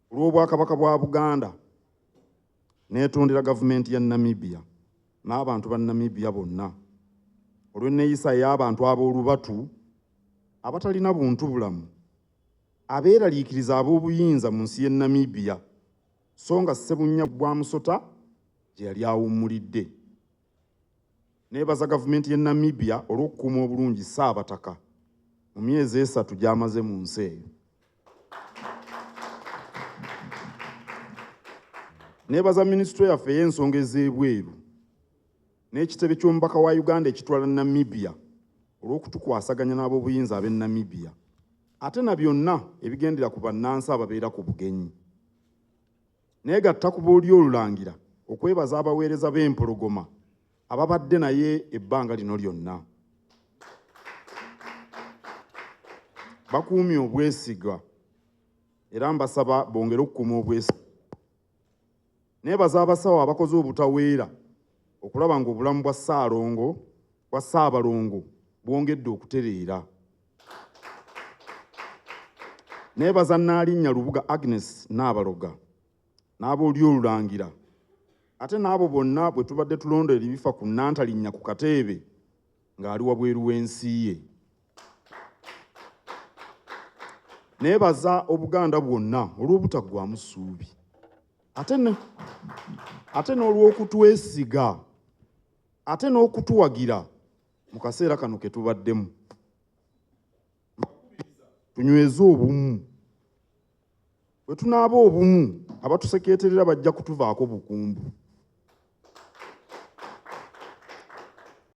Ku lw'Obwakabaka bwa Buganda, neetondera Gavumenti ya Namibia n'abantu ba Namibia bonna olw'enneeyisa ey'abantu ab'olubatu abatalina buntubulamu abeeraliikiriza ab'obuyinza mu nsi y'e Namibia so nga Ssebunnya gwa musota gye yali awummulidde. Neebaza gavumenti y'e Namibia olw'okukuuma obulungi Ssaabataka mu myezi esatu gy'amaze mu nsi eyo. Neebaza minisitule yaffe ey'ensonga ez'ebweru n'ekitebe ky'omubaka wa Uganda ekitwala Namibia olw'okutukwasaganya n'ab'obuyinza ab'e Namibia ate na byonna ebigendera ku bannansi ababeera ku bugenyi. Neegatta ku booli y'Olulangira okwebaza abaweereza b'Empologoma ababadde naye ebbanga lino lyonna. Bakuumye obwesigwa era mbasaba bongere okukuuma obwesigwa. Neebaza abasawo abakoze obutaweera okulaba ng'obulamu bwa Ssaalongo bwa Ssaabalongo bwongedde okutereera neebaza nnaalinnya lubuga agnes naabaloga n'abooli olulangira ate n'abo bonna bwe tubadde tulonda eribifa ku nnantalinnya ku kateebe ng'ali wabweru w'ensi ye neebaza obuganda bwonna olw'obutaggwamu ssuubi ate n'olw'okutwesiga ate n'okutuwagira mu kaseera kano ke tubaddemu tunyweze obumu bwe tunaaba obumu abatusekeeterera bajja kutuvaako bukumbu